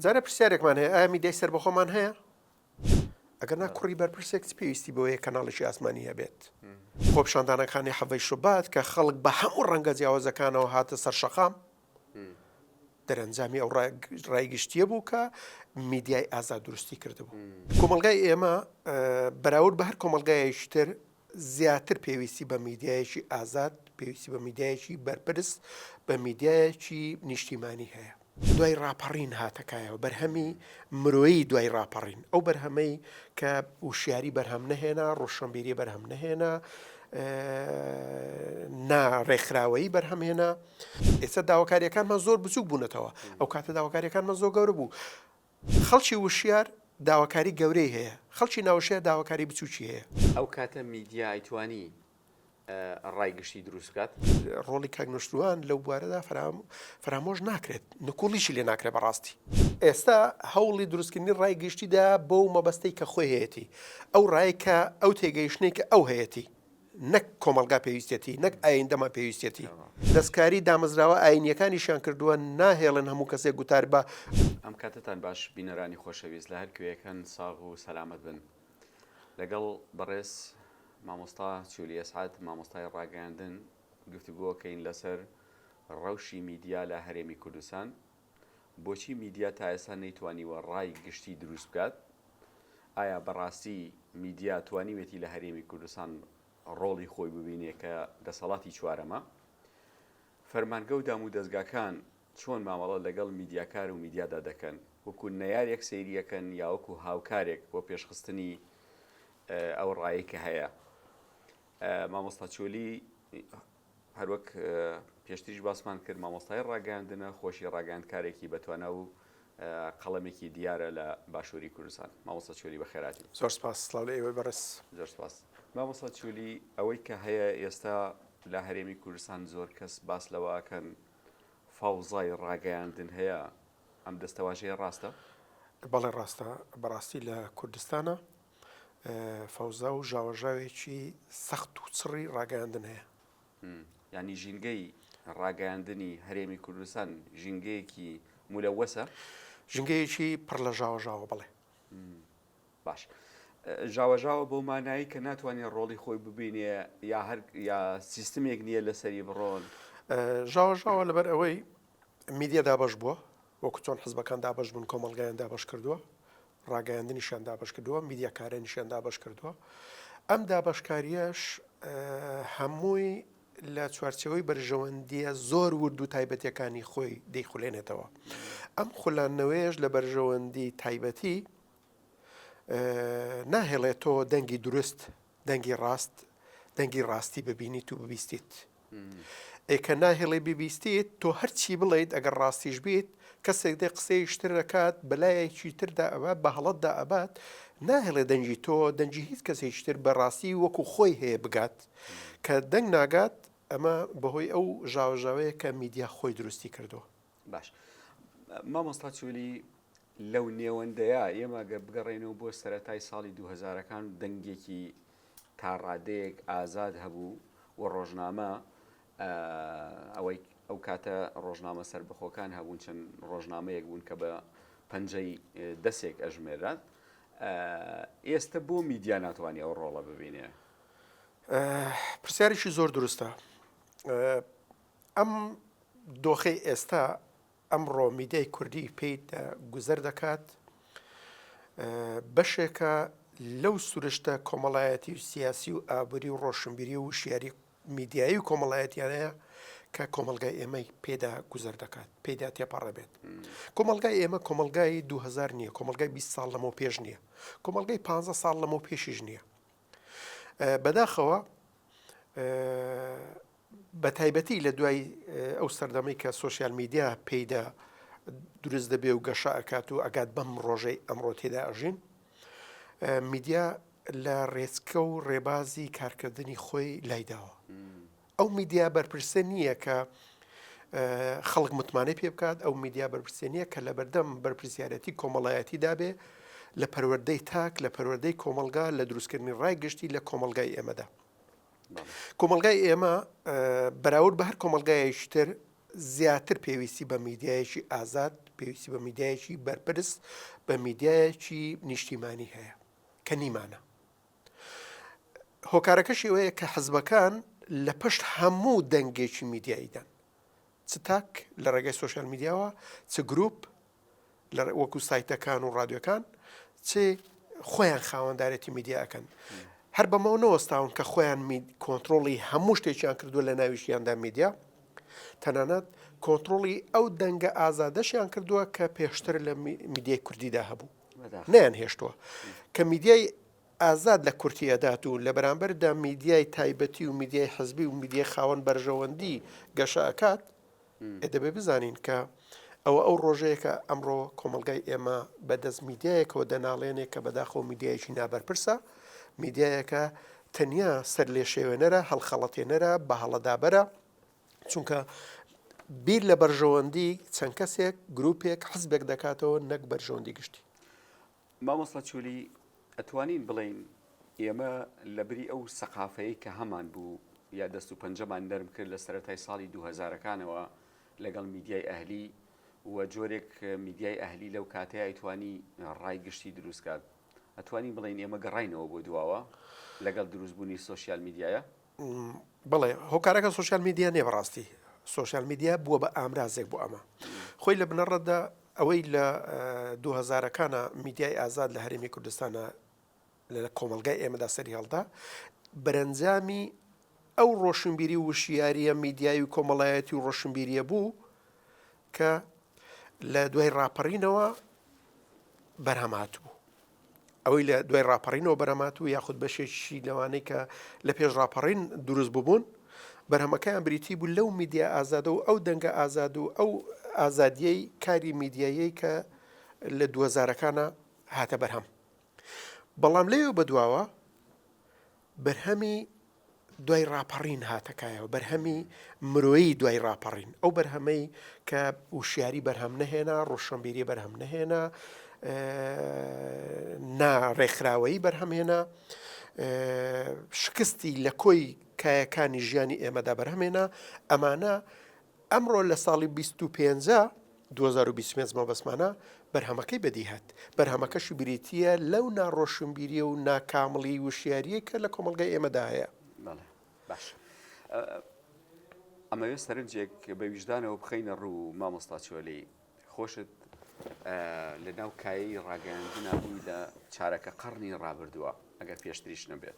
جارێ پرسیارێکمان هەیە ئایا میدیای سەربەخۆمان هەیە؟ ئەگەر نا کوڕی بەرپرسێک چ پێویستی بەوەیە کەناڵێکی ئاسمانی هەبێت؟ خۆپیشاندانەکانی حەڤەی شوبات کە خەڵک بە هەموو ڕەنگە جیاوازەکانەوە هاتە سەر شەقام، دەرەنجامی ئەو ڕای گشتییە بوو کە میدیای ئازاد دروستی کردبوو. کۆمەڵگای ئێمە بەراورد بە هەر کۆمەڵگایەکی تر زیاتر پێویستی بە میدیایەکی ئازاد، پێویستی بە میدیایەکی بەرپرس، بە میدیایەکی نیشتیمانی هەیە. دوای ڕاپەڕین هاتە کایەوە، بەرهەمی مرۆیی دوای ڕاپەڕین، ئەو بەرهەمەی کە وشیاری بەرهەم نەهێنا، ڕۆشنبیری بەرهەم نەهێنا، نا ڕێکخراوەیی بەرهەم هێنا. ئێستا داواکارییەکانمان زۆر بچووک بوونەتەوە، ئەو کاتە داواکارییەکانمان زۆر گەورە بوو. خەڵکی وشیار داواکاری گەورەی هەیە، خەڵکی ناوشیار داواکاری بچووکی هەیە. ئەو کاتە میدیا ئەیتوانی ڕای گشتی دروست بکات. ڕۆڵی کاک نوشروان لەو بوارەدا فەرامۆش ناکرێت، نکوڵیشی لێ ناکرێت بە ڕاستی. ئێستا هەوڵی دروستکردنی ڕای گشتی دایە بەو مەبەستەی کە خۆی هەیەتی، ئەو ڕایەی کە ئەو تێگەیشتنەی کە ئەو هەیەتی. نەک کۆمەڵگا پێویستیەتی، نەک ئایندەمان پێویستیەتی. دەستکاری دامەزراوە ئاینییەکانیشیان کردووە، ناهێڵن هەموو کەسێک گوتار بە. ئەم کاتەتان باش بینەرانی خۆشەویست لە هەر کوێیەکن ساغ و سەلامەت بن لەگەڵ بەڕێز مامۆستا چولی ئەسعەد مامۆستای ڕاگەیاندن گفتوگۆکەین لەسەر ڕەوشی میدیا لە هەرێمی کوردستان. بۆچی میدیا تا ئێستا نەیتوانیوە ڕای گشتی دروست بکات؟ ئایا بەڕاستی میدیا توانیوێتی لە هەرێمی کوردستان ڕۆڵی خۆی ببینێ کە دەسەڵاتی چوارەمە؟ فەرمانگە و دامودەزگاکان چۆن مامەڵە لەگەڵ میدیاکار و میدیادا دەکەن؟ وەکو نەیارێک سەیری ئەکەن یا وەکو هاوکارێک بۆ پێشخستنی ئەو ڕایەی کە هەیە؟ مامۆستا چۆلی هەروەک پێشتریش باسمان کرد مامۆستای ڕاگەیاندنە خۆشی ڕاگەاندکارێکی بەتوانا و قەڵەمێکی دیارە لە باشووری کوردستان مامۆستا چۆلی بەخێراتی زۆر سپاس سڵاو لە ئێوەی بەڕێز زۆر سپاس مامۆستا چۆلی ئەوەی کە هەیە ئێستا لە هەرێمی کوردستان زۆر کەس باس لەوەکەن فاوزای ڕاگەیاندن هەیە ئەم دەستەواژەیە ڕاستە بەڵێ ڕاستە بەڕاستی لە کوردستانە فەوزا و ژاوەژاوێکی سەخت و چڕی ڕاگەیاندن هەیە. یانی ژینگەی ڕاگەیاندنی هەرێمی کوردستان ژینگەیەکی مولەوەسە؟ ژینگەیەکی پڕ لە ژاوەژاوە بەڵێ. باش. ژاوەژاوە بەو مانایی کە ناتوانێت ڕۆڵی خۆی ببینێ یا هەر یا سیستمێک نییە لەسەری بڕۆن ژاوەژاوە لەبەر ئەوەی میدیا دابەش بووە وەکو چۆن حزبەکان دابەش بوون کۆمەڵگایان دابەش کردووە ڕاگەیاندنیشیان دابەشکردووە، میدیاکارانیشیان دابەشکردووە، ئەم دابەشکارییەش هەمووی لە چوارچەوەی بەرژەوەندیە زۆر ورد و تایبەتەکانی خۆی دەیخولێنێتەوە ئەم خولانەوەیش لە بەرژەوەندی تایبەتی ناهێڵێتەوە دەنگی دروست دەنگی ڕاست دەنگی ڕاستی ببینیت و ببیستیت ئێ کە ناهێڵی ببیستیت تۆ هەرچی بڵێیت ئەگەر ڕاستیش بیت کەسێک دێ قسەی شتر دەکات بەلایەکی تردا ئەبات بە هەڵەتدا ئەبات ناهێڵێ دەنگی تۆ دەنگی هیچ کەسێکی تر بە ڕاستی وەکو خۆی هەیە بگات کە دەنگ ناگات ئەمە بەهۆی ئەو ژاوەژاوەیە کە میدیا خۆی دروستی کردووە. باش مامۆستا چولی لەو نێوەندەیە ئێمە گەر بگەڕێنەوە بۆ سەتای ساڵی دوهزارەکان دەنگێکی تا ڕادەیەک ئازاد هەبوو و ڕۆژنامە ئەوەی ئەو کاتە ڕۆژنامە سربەخۆکان هەبوون چەند ڕۆژنامەیەک بوون کە بە پەنجەی دەسێک ئەژمێرات ئێستا بۆ میدیا ناتوانانی ئەو ڕۆڵە ببینێ پرسیارێکی زۆر دروستە ئەم دۆخەی ئێستا ئەمڕۆ میدیای کوردی پێی گوزەر دەکات بەشێکە لەو سروشتە کۆمەڵایەتی و سیاسی و ئابووری و ڕۆشنبیری و وشیاری میدیایی و کۆمەڵایەتیانەیە کە کۆمەلگای ئێمەی پێدا گوزەر دەکات پێدا تێپەڕە بێت کۆمەلگای ئێمە کۆمەلگای 2000 نییە کۆمەلگای 20 ساڵ لەمە پێش نییە کۆمەلگای 15 ساڵ لەمە پێشیش نییە بەداخەوە بەتایبەتی لە دوای ئەو سەردەمەی کە سوۆسیال میدیا پێیدا دروست دەبێ و گەشە ئەکات و ئەگات بەم ڕۆژەی ئەمڕۆ تێدا ئەژین میدیا لە ڕێچکە و ڕێبازی کارکردنی خۆی لایداوە ئەو میدیا بەرپرسە نییە کە خەڵک متمانەی پێ بکات ئەو میدیا بەرپرسێ نییە کە لە بەردەم بەرپرسیارەتی کۆمەڵایەتی دابێ لە پەروەەردەی تاک لە پەروەەردەی کۆمەلگا لە دروستکردنی ڕای گشتی لە کۆمەلگای ئێمەدا کۆمەلگای ئێمە بەراورد بە هەر کۆمەلگایشتر زیاتر پێویستی بە میدیایەکی ئازاد پێویستی بە میدیایەکی بەرپرس بە میدیایەکی نیشتیمانی هەیە کە نیمانە هۆکارەکەشی ئەوەیە کە حزبەکان لە پشت هەموو دەنگێکی میدیاییدان، چ تاک لە ڕێگەی سۆشیال میدیاوە، چ گروپ لە وەکو سایتەکان و ڕادیۆکان، چ خۆیان خاوەندارێتی میدیا ئەکەن. هەر بەمەوە نەوەستاون کە خۆیان کۆنتترۆڵی هەموو شتێکیان کردو لە ناویشیاندا میدیا تەنانەت کۆنتترۆڵی ئەو دەنگە ئازادەشیان کردووە کە پێشتر لە میدیای کوردیدا هەبوو. نەیانهێشتووە کە میدیای ئازاد لە کورتی ئەدات و لە بەرامبەردا میدیای تایبەتی و میدیای حزبی و میدیای خاوەن بەرژەوەندی گەشە ئەکات دەبێ بزانین کە ئەوە ئەو ڕۆژەیەکە ئەمڕۆ کۆمەلگای ئێمە بەدەست میدیایەکەوە دەناڵێنێک کە بەداخۆ میدیایکی نابەرپرسە میدیایەکە تەنیا سەر لێ شێوێنەرە هەڵخەڵەتێنەرە بە هەڵەدابەرە چونکە بیر لە بەرژەوەندی چەند کەسێک گروپێک حزبێک دەکاتەوە نەک بەرژەوەندی گشتی مامۆستا چۆلی ئەتوانین بڵین ئێمە لە بری ئەو سەقافەیە کە هەمان بوو یا دەست و پەنجەمان نەرم کرد لە سەتای ساڵی 2000ەکانەوە لەگەڵ میدیای ئەهلی و جۆرێک میدیای ئەهلی لەو کاتەیە ئەیتوانی ڕای گشتی دروستکات ئەتوانی بڵین ئێمە گەڕینەوە بۆ دواوە لەگەڵ دروستبوونی سوسیال میدیایە بەڵێ هۆکارەکە سوسیال میدیا نیە بەڕاستی سوسیال میدیا بووە بە ئامرازێک بۆ ئەمە خۆی لە بنەڕەتدا ئەوەی لە دوهزارەکانە میدیای ئازاد لە هەرێمی کوردستانە لە کۆمەلگای ئێمەدا سەری هەڵدا بەرەنجامی ئەو ڕۆشنبیری وشیاریە میدیایی و کۆمەڵایەتی و ڕۆشنبیریە بوو کە لە دوای ڕاپەڕینەوە بەرهەمات بوو ئەوەی لە دوای ڕاپەڕینەوە بەرەمات و یاخود بەشێکی لەوانەی کە لە پێش ڕاپەڕین دروست ببوون بەرهەمەکەیان بریتی بوو لەو میدیا ئازادە و ئەو دەنگە ئازاد و ئەو ئازادیەی کاری میدیایی کە لە دووەزارەکانە هاتە بەرهەم بەڵام لەوێ بەدواوە بەرهەمی دوای ڕاپەڕین هاتە کایەوە، بەرهەمی مرۆیی دوای ڕاپەڕین، ئەو بەرهەمەی کە وشیاری بەرهەم نەهێنا، ڕۆشنبیری بەرهەم نەهێنا، نا ڕێکخراوەیی بەرهەم هێنا، شکستی لە کۆی کایەکانی ژیانی ئێمەدا بەرهەم هێنا، ئەمانە ئەمڕۆ لە ساڵی بیست و پێنج، دوو هەزار و بیست و پێنج مەبەستمانە بەرهەمەکەی بەدی هات، بەرهەمەکەشی بریتییە لەو نا ڕۆشنبیریی و نا کامڵیی وشیارییەی کە لە کۆمەڵگای ئێمەدا هەیە. بەڵێ باش ئەمەوێ سەرنجێک بە ویژدانەوە بخەینە ڕوو مامۆستا چۆلی خۆشت لە ناو کایی ڕاگەیاندنا بووی لە چارەکە قڕنی ڕابردووە ئەگەر پێشتریش نەبێت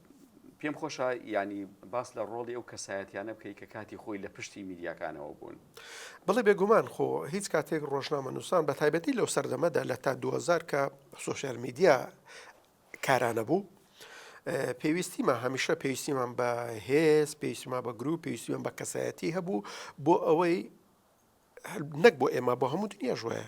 پێم خۆشە یانی باس لە ڕۆڵی ئەو کەسایەتیانە بکەی کە کاتی خۆی لە پشتی میدیاکانەوە بوون. بەڵێ بێگومان خۆ هیچ کاتێک ڕۆژنامە نووسان بە تایبەتی لەو سەردەمەدا لە تا دووهەزار کە سۆشیال میدیا کارانە بوو پێویستیمە هەمیشە پێویستیمان بە هێز پێویستیما بە گرو پێویستیمان بە کەسایەتی هەبوو بۆ ئەوەی نەک بۆ ئێمە بۆ هەموو دنیاش وایە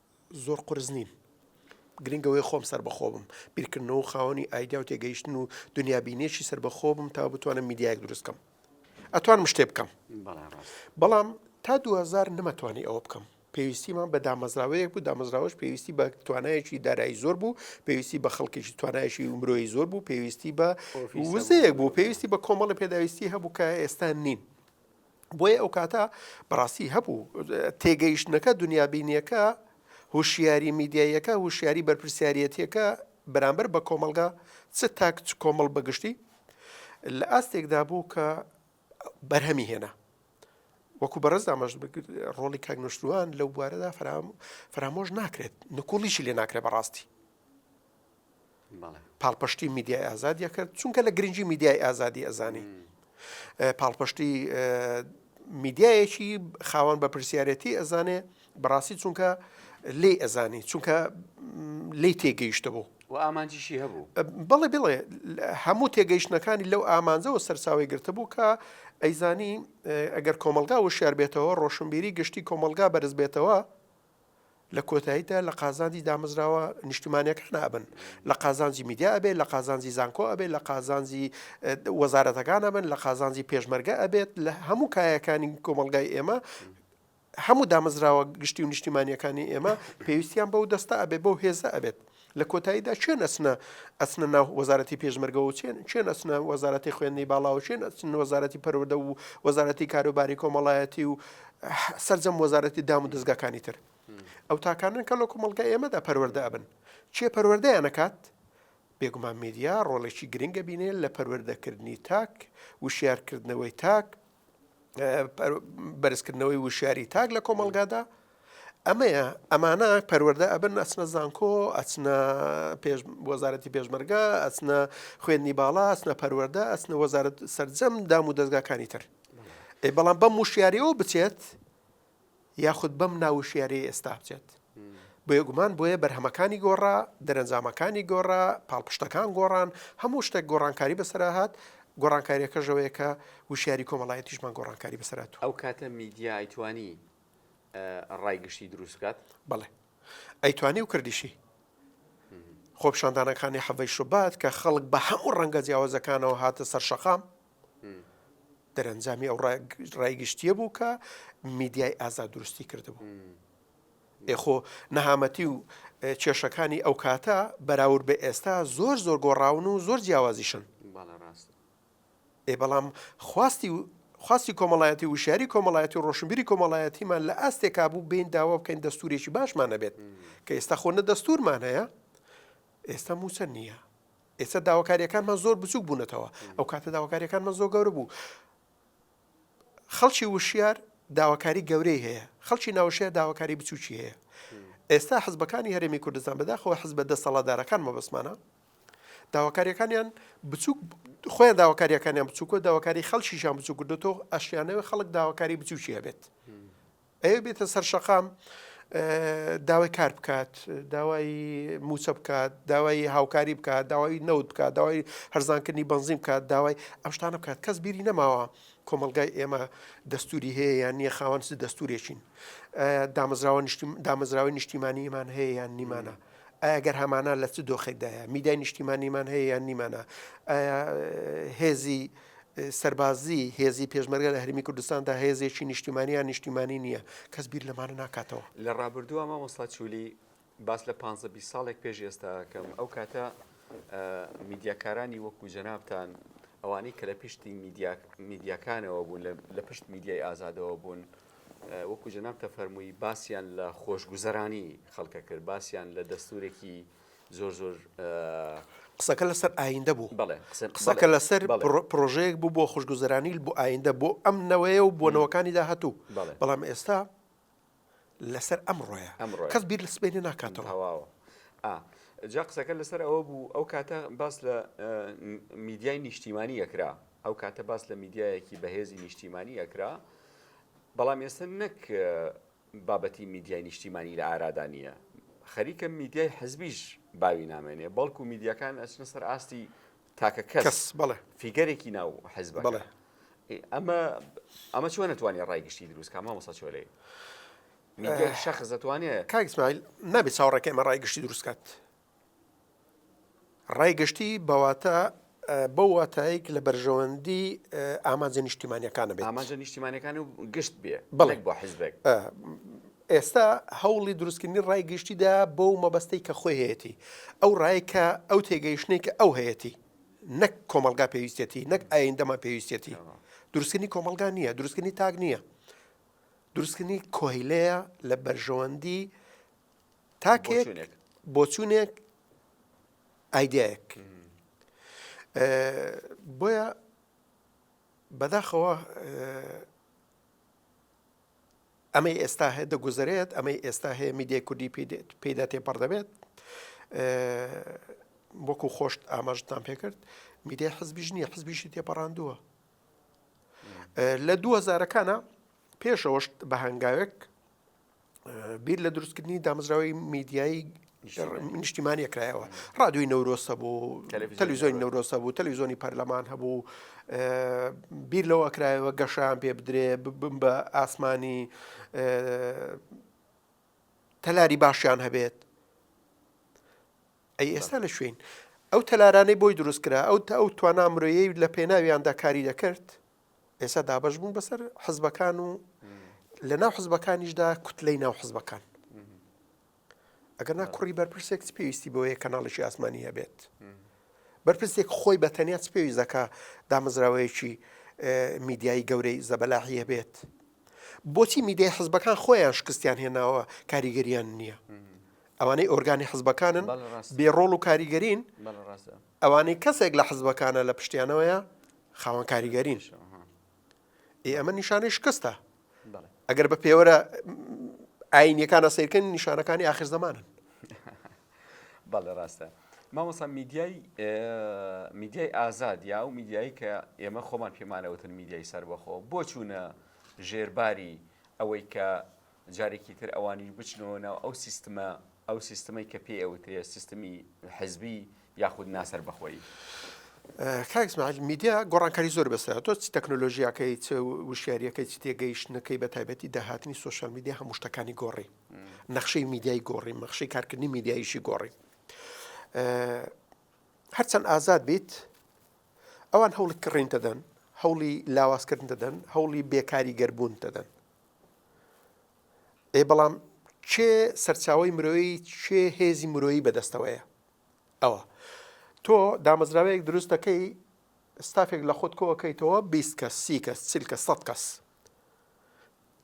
زۆر قورس نیم. گرنگ ئەوەیە خۆم سەربەخۆ بم، بیرکردنەوە و خاوەنی ئایدیا و تێگەیشتن و دونیابینیەکی سەربەخۆ بم تا بتوانم میدیایەک دروست کەم. ئەتوانم شتێ بکەم. بەڵام تا دوو هەزار نەمەتوانی ئەوە بکەم. پێویستیمان بە دامەزراوەیەک بوو، دامەزراوەش پێویستی بە توانایەکی دارایی زۆر بوو، پێویستی بە خەڵکێکی توانایشی مرۆیی زۆر بوو، پێویستی بە وزەیەک بوو، پێویستی بە کۆمەڵی پێداویستی هەبوو کە ئێستا نین. بۆیە ئەو کاتە بەڕاستی هەبوو تێگەیشتنەکە دنیابینیەکە هوشیاری میدیاییەکە هوشیاری بەرپرسیارەتیەکە بەرامبەر بە کۆمەلگا چ تاک چ کۆمەڵ بەگشتی لە ئاستێکدا بوو کە بەرهەمی هێنا وەکو بەڕز دامەش ڕۆڵی کاگنشتوان لەو بوارەدا فرام فرامۆش ناکرێت نکوڵیشی لێ ناکرێت بەڕاستی پاڵپشتی میدیای ئازادی کرد چونکە لە گرنگی میدیای ئازادی ئەزانی پاڵپشتی میدیایەکی خاوەن بە پرسیارەتی ئەزانێ بەڕاستی چونکە لی ئەزانی چونکە لی تێگەیشتە بوو و ئامانجیشی هەبوو بەڵێ بڵێ هەموو تێگەیشتنەکانی لەو ئامانجەوە سەرچاوی گرتبوو کە ئەیزانی ئەگەر کۆمەلگا وشار بێتەوە ڕۆشنبیری گشتی کۆمەلگا بەرز بێتەوە لە کۆتاییدا لە قازانجی دامەزراوە نیشتمانیەکان ئەبن، لە قازانجی میدیا ئەبێت، لە قازانجی زانکۆ ئەبێت، لە قازانجی وەزارەتەکان ئەبن، لە قازانجی پێشمەرگە ئەبێت، لە هەموو کایەکانی کۆمەڵگای ئێمە هەموو دامەزراوە گشتی و نیشتیمانیەکانی ئێمە پێویستیان بەو دەستە ئەبێت بەو هێزە ئەبێت. لە کۆتاییدا کێن ئەچنە ئەچنە ناو وەزارەتی پێشمەرگە و چێن کێن ئەچنە وەزارەتی خوێندنی باڵا و کێن ئەچن وەزارەتی پەروەردە و وەزارەتی کاروباری کۆمەڵایەتی و سرجەم وەزارەتی دام و دەستگاکانی تر ئەو تاکانن کە لە کۆمەڵگە ئێمەدا پەروەەردە ئەبن چێ پەروەەردەیان نەکات بێگومان میدیا ڕۆڵێکی گرنگە بینێ لە پەروەەردەکردنی تاک وشارکردنەوەی تاک بەرزکردنەوەی وشیاری تاک لە کۆمەلگادا ئەمەیە ئەمانە پەروەەردە ئەبن ئەچنە زانکۆ ئەچنە وەزارەتی پێشمەرگە ئەچنە خوێندنی باڵا ئەچنە پەروەەردە ئەچنە وەزارت سرجەم دام و دەستگاکانی تر ئەی بەڵام بەم وشیاریەوە بچێت یاخود بەم ناو وشیارییەی ئێستا بچێت. بێگومان بۆیە بەرهەمەکانی گۆڕا، دەرەنجامەکانی گۆڕا، پاڵپشتەکان گۆڕان، هەموو شتێک گۆڕانکاری بەسەرا هات، گۆڕانکارییەکەش ئەوەیە کە وشیاری کۆمەڵایەتیشمان گۆڕانکاری بەسەر هاتووە. ئەو کاتە میدیا ئەیتوانی ڕای گشتی دروست بکات؟ بەڵێ ئەیتوانی و کردیشی. خۆپیشاندانەکانی حەڤەی شوبات کە خەڵک بە هەموو ڕەنگە جیاوازەکانەوە هاتە سەر شەقام، دەرەنجامی ئەو ڕای گشتیە بوو کە میدیای ئازاد دروستی کردبوو ئێخۆ نەهامەتی و کێشەکانی ئەو کاتە بەراور بە ئێستا زۆر زۆر گۆڕاون و زۆر جیاوازیشن ئێ بەڵام خواستی خواستی کۆمەڵایەتی وشاری کۆمەڵایەتی و ڕۆشنبیری کۆمەڵایەتیمان لە ئاستێکا بوو بین داوا بکەین دەستورێکی باشمانە بێت کە ئێستا خۆ نە دەستورمان هەیە ئێستا موچە نییە ئێستا داواکاریەکانمان زۆر بچوک بونەتەوە ئەوکاتە داواکاریەکانمان زۆر گەورە بوو خەڵکی وشیار داواکاری گەورەی هەیە خەڵکی ناوشیار داواکاری بچوکی هەیە ئێستا حزبەکانی هەرێمی کوردستان بەداخەوە حزبە دەسەڵاتدارەکان مەبەسمانە داواکاریەکانیان بچوک خۆیان داواکاریەکانیان بچووکە داواکاری خەڵکیشان بچوو کردوەوە ئەشیانەوە خەڵک داواکاری بچوکی هەبێت ئەوێ بێتە سەر شەقام داوای کار بکات داوای موچە بکات داوای هاوکاری بکات داوای نەوت بکات داوای هەرزانکردنی بنزیم بکات داوای ئەم شتانە بکات کەس بیری نەماوە کۆمەلگای ئێمە دەستوری هەیە یان نییە خاوەنس دەستورێکین دامەزراوە دامەزراوی نیشتیمانیمان هەیە یان نیمانە. ئەگەر هەمانە لە چ دۆخێکدایە میدای نیشتیمانیمان هەیە یان نیمانە هێزی سەربازی هێزی پێشمەرگە لە هەرێمی کوردستاندا هێزێکی نیشتیمانی یان نیشتیمانی نییە، کەس بیر لەمانە ناکاتەوە. لە ڕابردووە مامۆستا چولی باس لە پانزە بیست ساڵێک پێش ئێستا ئەکەم، ئەو کاتە میدیاکارانی وەکوو جەنابتان، ئەوانەی کە لە پشتی میدیاکانەوە بوون، لە پشت میدیای ئازادەوە بوون، وەکوو جەنابتە فەرمووی باسیان لە خۆشگوزەرانی خەڵکە کرد، باسیان لە دەستوورێکی زۆر زۆر. قسەکە لەسەر ئایندە بوو بەڵێ قسەکە لەسەر پرۆژەیەک بوو بۆ خوشگوزەرانیل بۆ ئایندە بۆ ئەم نەوەیە و بۆ نەوەکانی داهاتوو بەڵام ئێستا لەسەر ئەم ڕۆیە ئەم ڕۆ کەس بیر لە سبێنێ ناکاتەوە هەواوە جا قسەکە لەسەر ئەوە بوو ئەو کاتە باس لە میدیای نیشتیمانی ئەکرا ئەو کاتە باس لە میدیایەکی بەهێزی نیشتیمانی ئەکرا بەڵام ئێستا نەک بابەتی میدیای نیشتیمانی لە ئارادا نییە، خەریکە میدیای حزبیش باوی نامێنێ، بەڵکو میدیاکان ئەچنە سەر ئاستی تاکە کەس، فیگەرێکی ناو حزبەکە. ئەمە چۆن ئەتوانێ ڕای گشتی دروست کا مامۆستا چۆلەی؟ میدیای شەخص ئەتوانێ؟ کاک ئیسماعیل، نابێ چاوەڕێکەی ئەمە ڕای گشتی دروست کات. ڕای گشتی بەواتە بەو واتایەک لە بەرژەوەندی ئامانجە نیشتیمانیەکانە بێت ئامانجە نیشتیمانەکان و گشت بێ بڵێک بۆ حزبێک ئێستا هەوڵی دروستکردنی ڕای گشتیدا بۆ و مەبەستەی کە خۆی هەیەی ئەو ڕای کە ئەو تێگەیشتنی کە ئەو هەیەی نەک کۆمەلگا پێویستێتی نەک ئایندەمان پێویستێتی دروستکردنی کۆمەلگا نییە دروستکردنی تاک نییە دروستکردنی کۆیلەیە لە بەرژەوەندی تاکێک بۆچوونێک ئایدایەک بۆیە بەداخەوە ئەمەی ئێستا هەیە دەگوزارێت ئەمەی ئێستا هەیە میدیای کوردی پێدا تێپەڕ دەبێت وەکو خۆشت ئاماژتان پێکرد میدیای حزبیش نییە حزبیشی تێپەڕاندووە لە دووەزارەکانە پێشەوەشت بە هەنگاوێک بیر لە دروستکردنی دامەزراوەی میدیایی نیشتیمانی کرایەوە ڕادوی نەورۆسە بوو تەلویزیۆنی نەورۆسە بوو تەلویزیۆنی پەرلەمان هەبوو بیر لەوە کرایەوە گەشان پێ بدرێ بم بە ئاسمانی تەلاری باشیان هەبێت ئەی ئێستا لە شوێن ئەو تەلارانەی بۆی دروست کرا ئەو تا ئەو توانا مرۆیی لە پێناویاندا کاری دەکرد ئێستا دابەش بوون بەسەر حزبەکان و لە ناو حزبەکانیشدا کوتلەی ناو حزبەکان ئەگەر نا کوڕی بەرپرسێک پێویستی بۆیە کەناڵێکی ئاسمانی هەبێت بەرپرسێک خۆی بە تەنیا پێویست دەکە دامەزراوەیەکی میدیایی گەورەی زەبەلاحی هەبێت بۆچی میدیای حزبەکان خۆیان شکستیان هێناوە کاریگەریان نییە ئەوانەی ئۆرگانی حزبەکانن بێ ڕۆڵ و کاریگەرین ئەوانەی کەسێک لە حزبەکانە لە پشتیانەوەیە خاوەن کاریگەرین ئێ ئەمە نیشانەی شکستە ئەگەر بە پێوەرە ئاینیەکانە سیرکەن نیشانەکانی آخر زمانن بەڵێ ڕاستە مامۆسا میدیای میدیای ئازاد یا و میدیایی کە ئێمە خۆمان پێمانەوتن میدیای سەربەخۆ بۆ چوونە ژێرباری ئەوەی کە جارێکی تر ئەوانیش بچنەوە ناو ئەو سیستمە، ئەو سیستمەی کە پێی ئەوترێ سیستمی حزبی یاخود ناسەربەخۆیی. کاک ئیسماعیل میدیا گۆڕانکاری زۆر بەسەرە تۆ چ تەکنۆلۆژیاکەی چ وشیاریەکەی چ تێگەیشتنەکەی بە تایبەتی داهاتنی سوۆشال میدیا هەموو شتەکانی گۆڕی نەخشەی میدیای گۆڕی مەخشی کارکردنی میدیایشی گۆڕی هەرچەند ئازاد بیت ئەوان هەوڵی کڕین دەدەن هەوڵی لاوازکردن دەدەن هەوڵی بێکاری گەربوون دەدەن ئەی بەڵام کێ سەرچاوەی مرۆیی کێ هێزی مرۆیی بەدەستەوەیە ئەوە تۆ دامەزراوەیەک دروست دەکەی ستافێک لە خۆت کۆکەیتەوە 20 کەس سی کەس چل کە سە کەس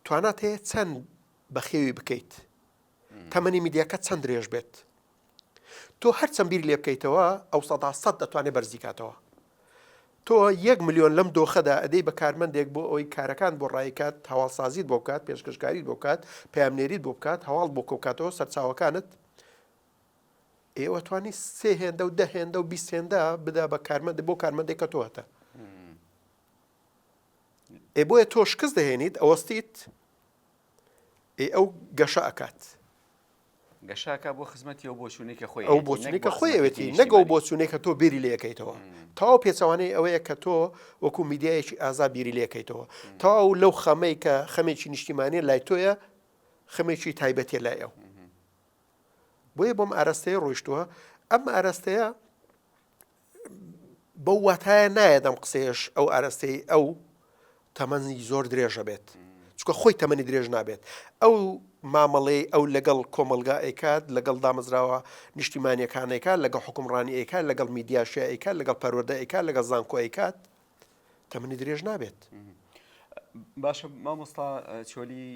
توانات هەیە چەند بەخێوی بکەیت تەمەنی میدیاکە چەند درێژ بێت تۆ هەرچەند بیر لێ بکەیتەوە ئەو سەدا سەد دەتوانێت بەرزی کاتەوە تۆ یەک میلیۆن لەم دۆخەدا ئەدەی بە کارمەندێک بۆ ئەوی کارەکان بۆ ڕایکات هەواڵسازیت بۆ بکات پێشکەشکاریت بۆ بکات پامنێریت بۆ بکات هەواڵ بۆ کۆکاتەوە سەرچاوەکانت ئێوە توانی سێ هێندە و دە هێندە و بیست هێندە بدا بە کارمەند بۆ کارمەندێک کە تۆهتە ئێ بۆیە تۆ شکست دەهێنیت ئەوەستیت ئەی ئەو گەشە ئەکات. گەشە ئەکات بۆ خزمەتی ئەو بۆچوونەی کە خۆی ئەو بۆچوونەی کە خۆی ئەوێتی نەک ئەو بۆچوونەی کە تۆ بیری لێ ئەکەیتەوە. تەواو پێچەوانەی ئەوەیە کە تۆ وەکوو میدیایەکی ئازا بیری لێ ئەکەیتەوە. تەواو لەو خەمەی کە خەمێکی نیشتیمانییە لای تۆیە خەمێکی تایبەتییە لای ئەو. بۆیە بۆم ئاراستەیە ڕۆیشتووە ئەم ئاراستەیە بەو واتایە نایەت ئەم قسەیەش ئەو ئارەستەی ئەو تەمەنی زۆر درێژە بێت چکە خۆی تەمەنی درێژ نابێت ئەو مامەڵەی ئەو لەگەڵ کۆمەلگا ئەیکات لەگەڵ دامەزراوە نیشتیمانیەکانێکە لەگە حکومڕانی ئەیکات لەگەڵ میدیاشیایکە لەگەڵ پەروەدەئیکات لەگەڵ زانکۆیکات تەمنی درێژ نابێت. باشە مامۆستا چۆلی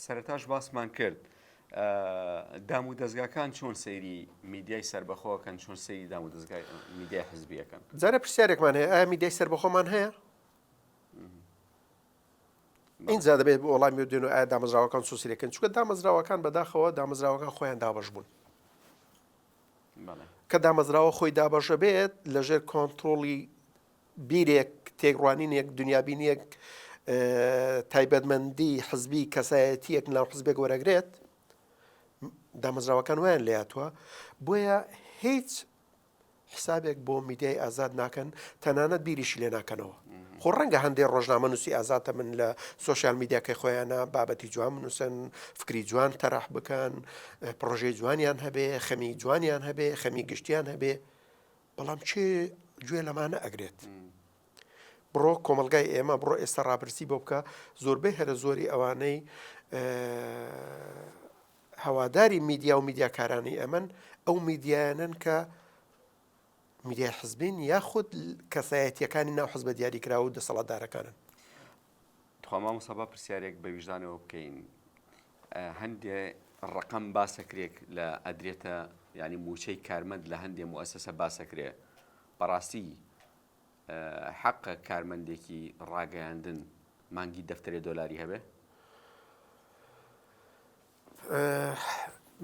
سەرتاش باسمان کرد دام و دەستگاکان چۆن سەیری میدیای سربەخۆکەن چۆن سەیری دام و دەستگای میدیای حزبیەکەن جارە پرسیارێکمان هەیە ئایا میدیای سربەخۆمان هەیە اینجا دەبێت بۆ وڵامی دێن و ئایا دامەزراوەکان سوسیرەکەن چکە دامەزراوەکان بەداخەوە دامەزراوەکان خۆیان دابش بوون کە دامەزراوە خۆی دابەشە بێت لە ژێر کۆنترۆڵی بیرێک تێکڕوانینێک دنیابینیەک تایبەتمەندی حزبی کەسایەتیەک ناو حزبێک وەرەگرێت دامەزراوەکان ویان لاتوە بۆیە هیچ حسابێک بۆ میدیای ئازاد ناکەن تەنانەت بیریشی لێ ناکەنەوە خۆ ڕەنگە هەندێ ڕۆژنامەنووسی ئازاتە من لە سۆشیال میدیاکەی خۆیانە بابەتی جوان بنووسن، فکری جوان تەرح بکەن، پڕۆژەی جوانیان هەبێ، خەمی جوانیان هەبێ، خەمی گشتیان هەبێ، بەڵام کێ گوێ لەمانە ئەگرێت؟ بڕۆ کۆمەلگای ئێمە بڕۆ ئێستا ڕاپرسی بۆ بکە زۆربەی هەرە زۆری ئەوانەی هەواداری میدیا و میدیاکارانی ئەمن ئەو میدیایانن کە میدیای حزبین یاخود کەسایەتیەکانی ناو حزبە دیاریکراو و دەسەڵاتدارەکانن. تخوا مامۆستا با پرسیارێک بە ویژدانەوە بکەین هەندێ ڕقم باسەکرێک لە ئەدرێتە ینی موچەی کارمەند لە هەندێ موسسە باسەکرێ بەڕاستی حەقە کارمەندێکی ڕاگەیاندن مانگی دەفتەرێ دۆلاری هەبێ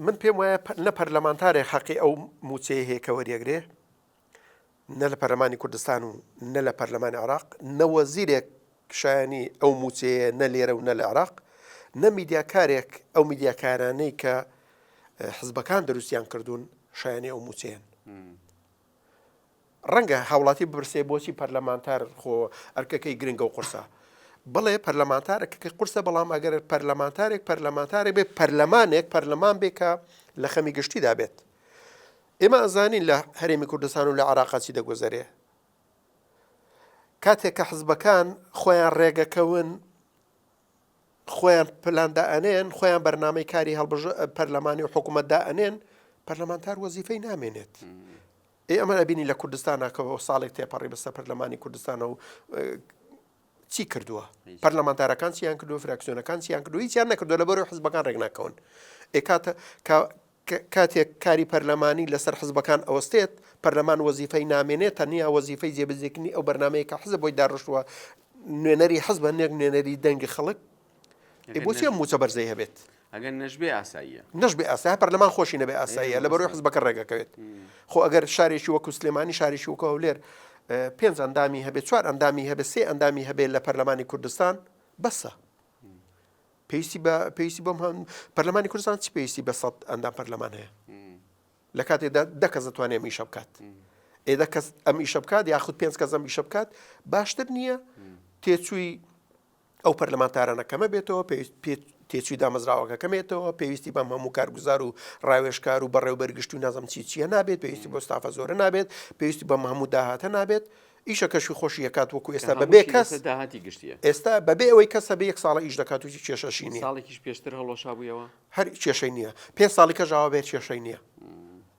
من پێم وایە نە پەرلەمانتارێک حەقی ئەو موچەیە هەیە کە وەریەگرێ نە لە پەرلەمانی کوردستان و نە لە پەرلەمانی عراق نەوەزیرێک شایانی ئەو موچەیە نە لێرە و نە لە عراق نە میدیاکارێک ئەو میدیاکارانەی کە حزبەکان دروستیان کردوون شایانی ئەو موچەیەن ڕەنگە هاوڵاتی بپرسێ بۆچی پەرلەمانتار خۆ ئەرکەکەی گرنگە و قورسە؟ بەڵێ پەرلەمانتار ئەرکەکەی قورسە بەڵام ئەگەر پەرلەمانتارێک پەرلەمانتارێک بێت پەرلەمانێک پەرلەمان بێت کە لە خەمی گشتیدا بێت ئێمە ئەزانین لە هەرێمی کوردستان و لە عراقا چی دەگوزەرێ کاتێک کە حزبەکان خۆیان ڕێگەکەون خۆیان پلاندا ئەنێن خۆیان بەرنمەی کاری هەڵبژ پەرلەمانی و حکوومەتدا ئەنێن پەرلەمانتار وەزیفەی نامێنێت ئێ ئەمان ئەبینی لە کوردستانا کە هۆ ساڵێک تێپەڕی بەسە پەرلەمانی کوردستانە و چی کردووە پەرلەمانتارەکان چیان کردو فراکسیۆنەکان چیان کردو هیچیان نەکردو لە بەرەو حزبەکان ڕێکناکەون ئێکاتە کاتێک کاری پەرلەمانی لەسەر حزبەکان ئەوەستێت پەرلەمان وەزیفەی نامێنێت تەنیا وەزیفەی جێبزیکردنی ئەو بەرنمەیە کە حزب بۆی داڕشتووە نوێنەری حزبە نێک نوێنەری دەنگی خەڵک ئەی بۆچی ئەم مووچە بەرزەی هەبێت؟ ئەگەر نەشبێ ئاساییە نەشبێ ئاسا پەرلەمان خۆشی نەبێ ئاساییە لە بەرۆی حزبەکە ڕێگەکەوێت خۆ ئەگەر شارێکی وەکو سلێمانی شارێکی وکە هەولێر پێنج ئەندامی هەبێت چوار ئەندامی هەبێ سێ ئەندامی هەبێ لە پەرلەمانی کوردستان بەسە پێویستی بە پێویستی بۆم هەم پەرلەمانی کوردستان چی پێویستی بە سەد ئەندام پەرلەمان هەیە لە کاتێدا دەکەس دەتوانێت میشە بکات ئێدە کەس ئەم ئیشە بکات یاخود پێنج کەس ئەم ئیشە بکات باشتر نییە تێچووی ئەو پەرلەمانتارانە کەمە بێتەوە، پێویست تێچووی دامەزراوەکە کەمێتەوە پێویستی بەم هەموو کارگوزار و ڕاوێشکار و بەڕێوبەر گشت و نازم چی چیە نابێت پێویستی بۆ ستافە زۆرە نابێت پێویستی بەم هەموو داهاتە نابێت ئیشە کەشی خۆشی یکات وەکو ئێستا بەبێ کەس داهاتی گشتیە ئێستا بەبێ ئەوەی کەسە بە یەک ساڵە ئیش دەکات و کێشەشی نیە ساڵێکیش پێشتر هەڵۆشابوویەوە هەر کێشەی نییە پێ ساڵی کە ژاوە بێت کێشەی نییە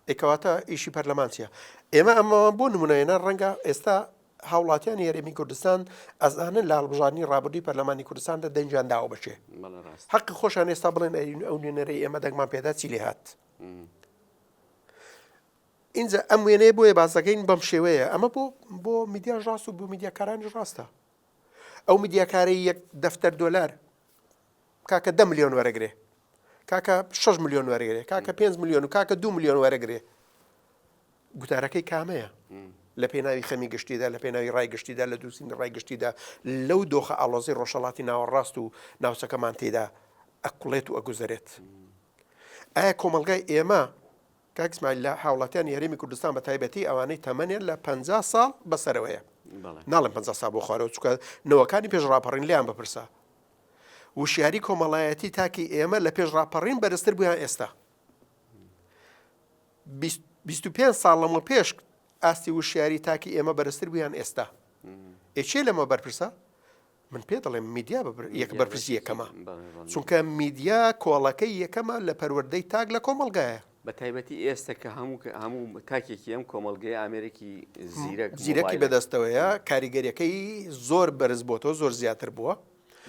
ئەکەواتە ئیشی پەرلەمانچیە ئێمە ئەمەوان بۆ نمونەێنە ڕەنگە ئێستا هاوڵاتیانی هەرێمی کوردستان ئەزانن لە هەڵبژاردنی ڕابردووی پەرلەمانی کوردستاندا دەنگیان داوە بە کێ حەقی خۆشان ئێستا بڵێن ئەرین ئەو نوێنەرەی ئێمە دەنگمان پێدا چی لێ هات اینجا ئەم وێنەیە بۆیە باسەکەین بەم شێوەیە ئەمە بۆ بۆ میدیاش ڕاست و بۆ میدیاکارانی ڕاستە ئەو میدیاکاری یەک دەفتەر دلار کاکە دە میلیۆن وەرەگرێ کاکە 6 میلیۆن وەرەگرێ کاکە 5 میلیۆن و کاکە دو میلیۆن وەرەگرێ گوتارەکەی کامەیە لە پێناوی خەمی گشتیدا لە پێناوی ڕای گشتیدا لە دووسینی ڕای گشتیدا لەو دۆخە ئاڵۆزی ڕۆژەڵاتی ناوەڕاست و ناوچەکەمان تێدا ئەکوڵێت و ئەگوزەرێت ئایا کۆمەلگای ئێمە کاکسمایل لە هاوڵاتیان یاریمی کوردستان بە تایبەتی ئەوانەی تەمەنێن لە پ ساڵ بەسەرەوەیە ناڵم پ سا بۆ خوارەوە چکە نەوەکانی پێش ڕاپەڕین لیان بپرسە وشیاری کۆمەڵایەتی تاکی ئێمە لە پێش ڕاپەڕین بەرزتر بوویان ئێستا بیست و پێنج ساڵ لەمە پێش ئاستی وشیاری تاکی ئێمە بەرزتر بوویان ئێستا ئێچێ لەمە بەرپرسە من پێ دەڵێم میدیا یەک بەرپرسی یەکەمە چونکە میدیا کۆڵەکەی یەکەمە لە پەروەردەی تاک لە کۆمەلگایە بە تایبەتی ئێستا کە هەموو هەموو تاکێکی ئەم کۆمەلگەی ئامرێکی زیرەک زیرەکی بەدەستەوەیە کاریگەریەکەی زۆر بەرز بۆ تۆ زۆر زیاتر بووە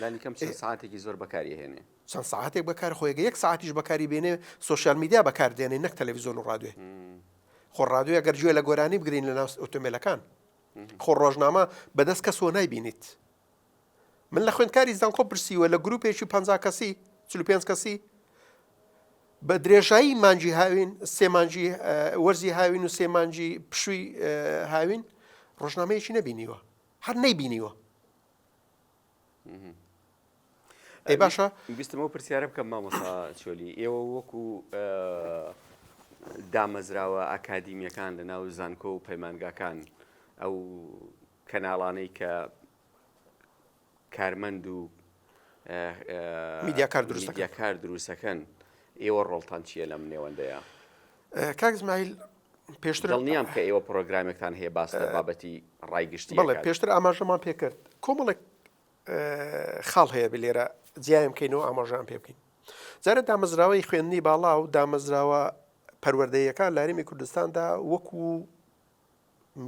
لانیکەم ساعتێکی زۆر بەکاریهێنێ چەند سەعاتێک بەکار خۆی گە یەک سەعاتیش بەکاری بێنێ سۆشیال میدیا بەکار دێنێ نەک تەلەڤیزۆن و ڕادوێ خۆ ڕادوێ گەر گوێ لە گۆرانی بگرین لە ناوست ئۆتۆمبیلەکان خۆ ڕۆژنامە بەدەست کەس وە نایبینیت من لە خوێندکاری زانکۆ پرسیوە لە گروپێکی پ کەسی چ پێنج کەسی بە درێژایی مانجی هاوین سێمانجی وەرزی هاوین و سێمانجی پشووی هاوین ڕۆژنامەیەکی نەبینیوە هەر نەیبینیوە ئەی باشە ویستمەوە پرسیارە بکەم مامۆسا چۆلی ئێوە وەکو دامەزراوە ئاکادیمیەکان لە ناو زانکۆ و پەیمانگاکان ئەو کەناڵانەی کە کارمەند و میدیاکار دروستەکە کار دروستەکەن ئێوە ڕۆڵتان چیە لەم نێوەندەیە کاکزمایل پێشتر دڵنیام کە ئێوە پرۆگرامێکتان هەیە باس لە بابەتی ڕای گشتی بەڵێ پێشتر ئاماژەمان پێکرد کۆمەڵێک خاڵ هەیە بلێرە جیایم بکەینەوە ئاماژان پێ بکەین جارە دامەزراوەی خوێندنی باڵا و دامەزراوە پەروەردەیەکان لارمی کوردستاندا وەکو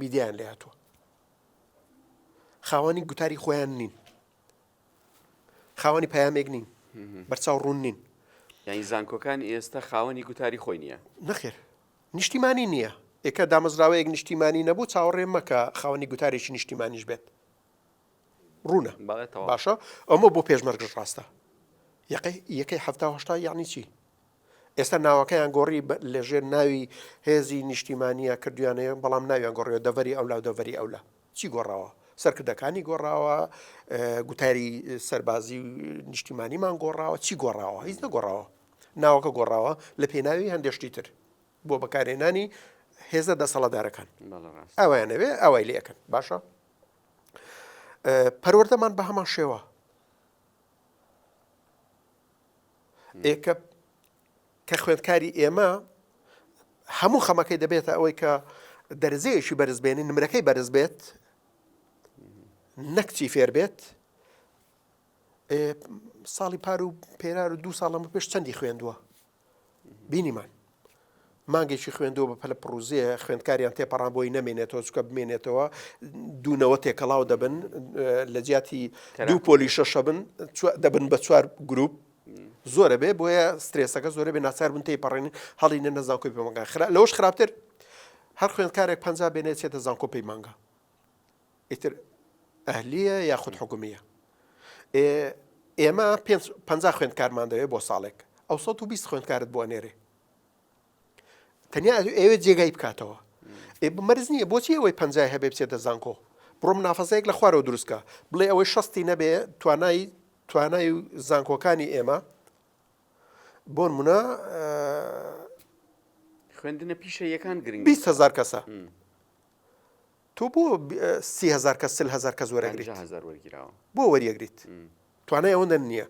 میدیان لاتوە خاوەنی گوتاری خۆیان نین خاوەنی پەیامێک نین بەرچاو ڕوون نین یعنی زانکۆکان ئێستا خاوەنی گوتاری خۆی نییە نەخێر نیشتیمانی نییە ئێکە دامەزراوەیەک نیشتیمانی نەبوو چاوەڕێ مەکە خاوەنی گوتارێکی نیشتیمانیش بێت ڕوونە باشە ئەمە بۆ پێشمەرگش ڕاستە یەکەی یەکەی هەفتاهشتا یعنی چی ئێستا ناوەکەیان گۆڕی لەژێر ناوی هێزی نیشتیمانە کردویانەیە بەڵام ناویان گۆڕێ دەڤری ئەولا دەڤری ئەولا چی گۆڕاوە؟ سەرکردەکانی گۆڕاوە، گوتاری سەربازی و نیشتیمانیمان گۆڕاوە، چی گۆڕاوە؟ هیچ نەگۆڕاوە. ناوەکە گۆڕاوە لە پێناوی هەندێک شتی تر بۆ بەکارهێنانی هێزە دەسەڵاتدارەکان. بەڵێ ڕاستە. ئەویان نەوێ ئەوای لێ ئەکەن. باشە؟ پەروەردەمان بە هەمان شێوە. ئێکە کە خوێندکاری ئێمە هەموو خەمەکەی دەبێتە ئەوەی کە دەرزەیەکی بەرز بێنی نمرەکەی بەرز بێت نەکچی فێر بێت ساڵی پار و پێرار و دوو ساڵم پێش چەندی خوێندووە بینیمان مانگێکی خوێندەوە بە پەلە پرۆزیە خوێندکاریان تێپەڕان بۆی نامێنێتەوە چکە بمێنێتەوە دوونەوە تێکەڵاو دەبن لە جیاتی دوو پۆلی شەشە بن دەبن بە چوار گروپ زۆرە بێ بۆیە سترێسەکە زۆرە بێ ناچار بن تی پەڕێن هەڵی نە نەزانکۆی پەمەگان خرا لەوەش خراپتر هەر خوێندکارێک پ بێنێت چێتە زانکۆ پێی مانگە ئیتر ئەهلیە یاخود حکومیە ئێمە پ خوێندکارمان دەوێت بۆ ساڵێک ئەو 120 خوێندکارت بۆ نێرێ تەنیا ئەوێ جێگای بکاتەوە مەرز نییە بۆچی ئەوەی پنجای هەبێ بچێتە زانکۆ بڕۆم نافەسەیەک لە خوارەوە دروستکە بڵێ ئەوەی شەستی نەبێ توانای توانای و زانکۆکانی ئێمە بۆن منە خوێندنە پیشە یەکان گرنگ 20 هزار کەسە تۆ بۆ سیهزار کە سل هزار کە زۆرەگری بۆ وەریەگریت توانای ئەوەندە نییە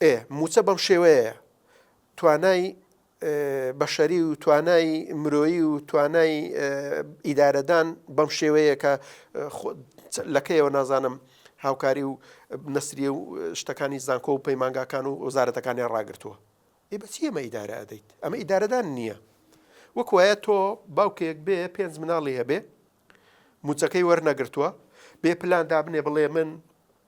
ئێ موچە بەم شێوەیە توانای بەشەری و توانای مرۆیی و توانای ئیدارەدان بەم شێوەیە کە لەکەیەوە نازانم هاوکاری و نەسری و شتەکانی زانکۆ و پەیمانگاکان و وەزارەتەکانیان ڕاگرتووە ئی بەچی ئەمە ئیدارە ئەدەیت ئەمە ئیدارەدان نییە وەک وایە تۆ باوکێک بێ پێنج مناڵی هەبێ موچەکەی وەرنەگرتووە بێ پلان دابنێ بڵێ من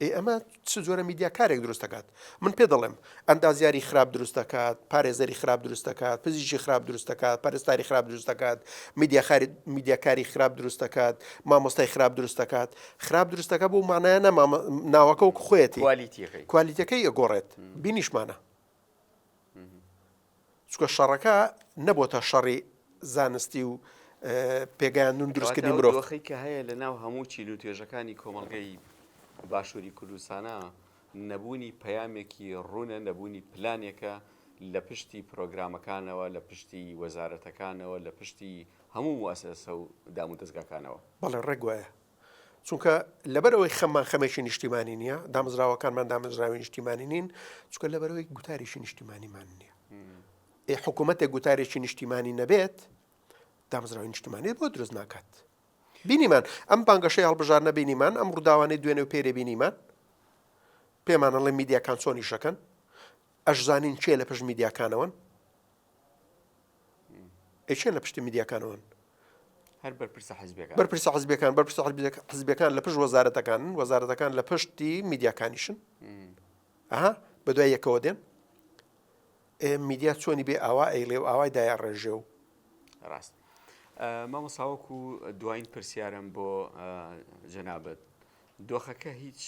ئێ ئەمە چ جۆرە میدیا کارێک دروست دەکات من پێ دەڵێم ئەندازیاری خراپ دروست دەکات پارێزەری خراپ دروست دەکات پزیشی خراپ دروست دەکات پەرستاری خراپ دروست دەکات میدیا خارج میدیاکاری خراپ دروست دەکات مامۆستای خراپ دروست دەکات خراپ دروست دەکات بۆ مانایە نەما ناوەکە و خۆێتی کوالیتەکەی ئەگۆڕێت بینیشمانە چونکە شەڕەکە نەبۆتە شەڕی زانستی و پێگەیاندون دروستکردنی مرۆڤ. کەواتە ئەو دۆخەی کە هەیە لە ناو هەموو چین و توێژەکانی کۆمەڵگەی باشوری کوردستانە نەبوونی پەیامێکی ڕوونە، نەبوونی پلانێکە لە پشتی پرۆگرامەکانەوە، لە پشتی وەزارەتەکانەوە، لە پشتی هەموو موئەسەسە و دامودەزگاکانەوە. بەڵێ ڕێک وایە. چونکە لەبەر ئەوەی خەممان خەمێکی نیشتیمانی نییە دامزراوەکانمان دامزراوی نیشتیمانی نین چکە لەبەرەوەی گوتاریشی نیشتیمانیمان نییە ئێ حکوومەتێک گوتارێکی نیشتیمانی نەبێت دامزراوی نیشتیمانی بۆ دروست ناکات بینیمان ئەم بانگەشەی هەڵبژار نەبینیمان ئەم ڕووداوانەی دوێنێ و پێرێ بینیمان پێمانەڵێ میدیاکان چۆنی شەکەن ئەشزانین چێ لە پشت میدیاکانەوەن ئەی کێ لە پشتی میدیاکانەوەن؟ هەر بەرپرسە حزبیەکان. بەرپرسە حزبیەکان بەرپرسە حزبیەکان لە پشت وەزارەتەکانن وەزارەتەکان لە پشتی میدیاکانیشن ئەها بە دوای یەکەوە دێن میدیا چۆنی بێ ئاوا ئەیلێ و ئاوای دایە ڕێژێ و ڕاست مامەساوەک و دوایین پرسیارم بۆ جەنابەت دۆخەکە هیچ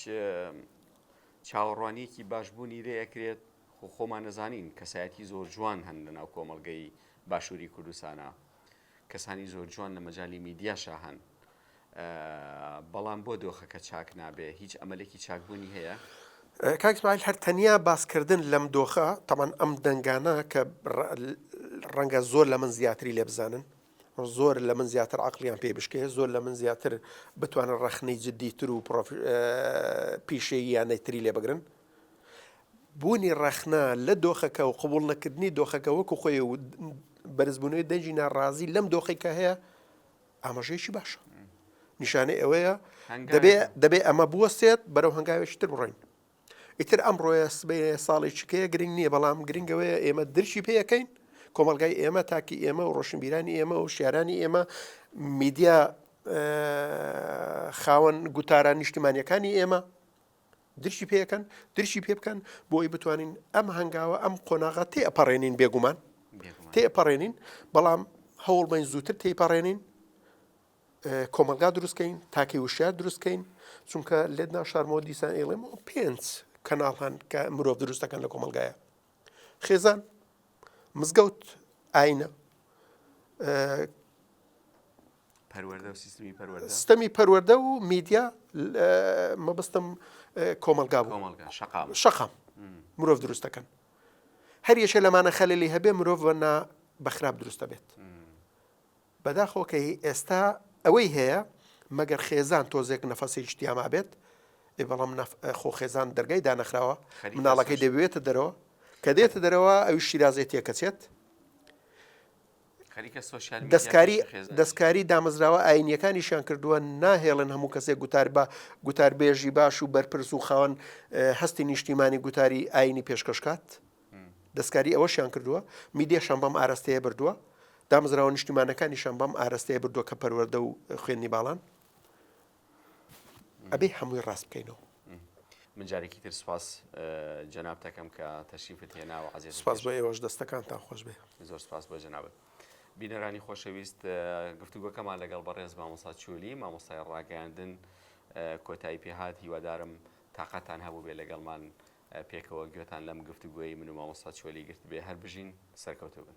چاوەڕوانیەکی باشبوونی لێ ئەکرێت خۆ خۆمان ئەزانین کەسایەتی زۆر جوان هەن لە ناو کۆمەڵگەی باشووری کوردستانا کەسانی زۆر جوان لە مەجالی میدیاشا هەن بەڵام بۆ دۆخەکە چاک نابێ هیچ ئەمەلێکی چاکبوونی هەیە؟ کاک ئیسماعیل هەر تەنیا باسکردن لەم دۆخە، تەبعەن ئەم دەنگانە کە ڕەنگە زۆر لە من زیاتری لێ بزانن، زۆر لە من زیاتر عەقڵیان پێ بشکێ، زۆر لە من زیاتر بتوانن ڕەخنەی جددیتر و پیشەییانەی تری لێ بگرن، بوونی ڕەخنە لە دۆخەکە و قبوڵ نەکردنی دۆخەکە وەکو خۆی و بەرزبوونەوەی دەنگی ناڕازی لەم دۆخی کە هەیە ئاماژەیەکی باشە نیشانەی ئەوەیە دەبێ دەبێ ئەمە بوەستێت بەرەو هەنگاوێکی تر بڕۆین ئیتر ئەم ڕۆیە سبێ ساڵی چکەیە گرنگ نییە بەڵام گرنگەوەیە ئێمە درشی پێەکەین کۆمەلگای ئێمە تاکی ئێمە و ڕۆشنبیرانی ئێمە و شارانی ئێمە میدیا خاوەن گوتاران نیشتیمانیەکانی ئێمە درکی پێکەن درکی پێ بکەن بۆی بتوانین ئەم هەنگاوە ئەم قۆناغا تێ ئەپەڕێنین بێگومان تێ ئەپەڕێنین بەڵام هەوڵ بین زووتر تێپەڕێنین کۆمەلگا دروستکەین تاکەی وشار دروستکەین چونکە لێت ناشارمەوە دیسان ئێڵێم و پێنج کەناڵ هەن کە مرۆڤ دروستەکەن لە کۆمەلگایە خێزان مزگەوت ئاینە پەروەردە و سیستمی پەروەردە ستەمی پەروەردە و میدیا مەبستم کۆمەلگا بوو کۆمەڵگا شەقام شەقام مرۆڤ دروست دەکەن هەر یەکێ لەمانە خەللی هەبێ مرۆڤ بە نا بەخراپ دروست دەبێت بەداخۆکەی ئێستا ئەوەی هەیە مەگەر خێزان تۆزێک نەفەسی شتیاما بێت ئێ بەڵام نەف- خۆ خێزان دەرگای دانەخراوە خەریکە مناڵەکەی سەرش. دەبێتە دەرەوە کە دێتە دەرەوە ئەوی شیرازەی تێکەچێت دەستکاری دامەزراوە ئایینییەکانیشیان کردووە، ناهێڵن هەموو کەسێک گوتار بە گوتاربێژی باش و بەرپرس و خاوەن هەستی نیشتیمانی گوتاری ئایینی پێشکەش کات، دەستکاری ئەوەشیان کردووە، میدیاشان بەم ئاراستەیە بردووە، دامەزراوە نیشتیمانەکانیشان بەم ئاراستەیە بردووە کە پەروەردە و خوێندنی باڵان. ئەبێ هەمووی ڕاست بکەینەوە. من جارێکی تر سوپاس جەناب تەکەم کە تەشریفت هێناوە عزیز سوپاس بۆ ئێوەش دەستەکانتان خۆش بێ زۆر سوپاس بۆ جەنابت. بینەرانی خۆشەویست گفتوگۆکەمان لەگەڵ بەڕێز مامۆسا چولی مامۆستای ڕاگەاندن کۆتایی پێهات هیوادارم تااقەتان هەبوو بێ لەگەڵمان پێکەوە گوێتان لەم گفتوگوۆی من و مامۆستا چۆلی گرت بێ هەر بژین سەرکەوتو بن.